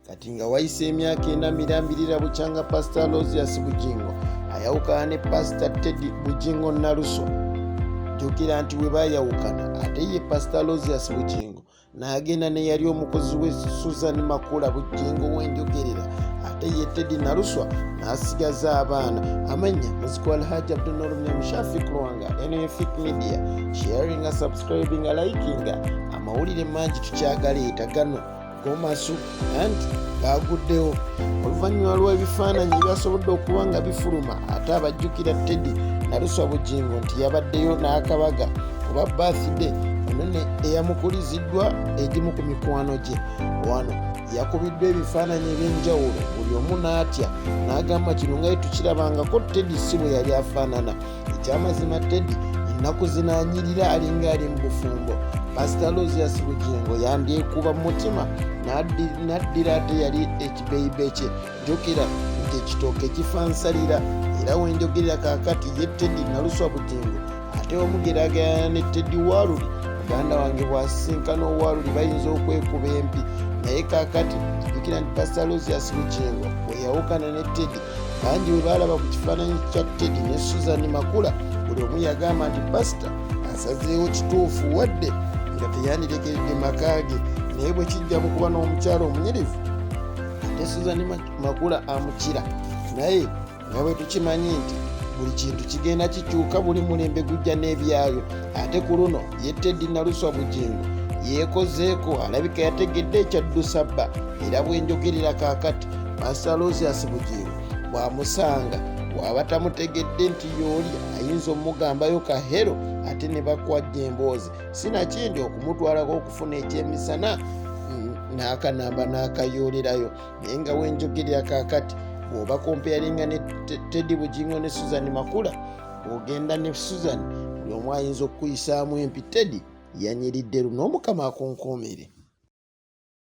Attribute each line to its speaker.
Speaker 1: kati nga wayise emyaka ena mirambirira bukyanga pasita losias bugingo ayawukana ne pasita teddy bugingo naluso jjukira nti we bayawukana ate ye pasita losias bugingo n'agenda n'eyali omukozi we susan makula bujjingo w'enjogerera ate ye teddy naluswa n'asigaza abaana amanya muziko alhaji abdunolumyamushafik lwanga nfik media sharinga subscribinga likinga amawulire mangi tukyagaleeta gano gomasu anti baaguddewo oluvannyuma lw'ebifaananyi ebyasobodde okuba nga bifuluma ate abajjukira teddy naluswa bugingo nti yabaddeyo n'akabaga oba bathide onone eyamukuliziddwa egimu ku mikwano gye wano yakubiddwa ebifaananyi eby'enjawulo buli omu n'atya n'agamba kino nga ye tukirabangako teddy si bwe yali afaanana ekyamazima teddy ennaku zinaanyirira alinga ali mu bufumbo pasita losias bugingo yandyekuba mu mutima n'addira ate yali ekibeyibe kye jjukira nti ekitooke kifansalira era wenjogerera kakati ye teddy naluswa bugingo ate omugeragayana ne teddy waluli muganda wange bwasisinkana owaluli bayinza okwekuba empi naye kakati jjukira nti pasita losias bugingo weyawukana ne teddy bangi bwe baalaba ku kifaananyi kya tedi ne susan makula buli omu yagamba nti pasita asazeewo kituufu wadde nga teyandirekeredde maka ge naye bwe kijja mu kuba n'omukyalo omunyirivu ate susan makula amukira naye nga bwe tukimanyi nti buli kintu kigenda kikyuka buli mulembe gujja n'ebyayo ate ku luno ye tedi naluswa bugingo yeekozeeko alabika yategedde ekyaddusa bba era bwenjogerera kakati masalosias bugingo bwamusanga waba tamutegedde nti yooli ayinza omugambayo kahero ate ne bakwajja emboozi sinakindi okumutwalako okufuna ekyemisana n'akanamba n'akayoolerayo naye nga wenjogerera kakati bwoba kompeyaringa ne teddy bugingo ne susan makula ogenda ne susan buli omu ayinza okukuyisaamu empi teddy yanyiridde luno omukama akunkuumire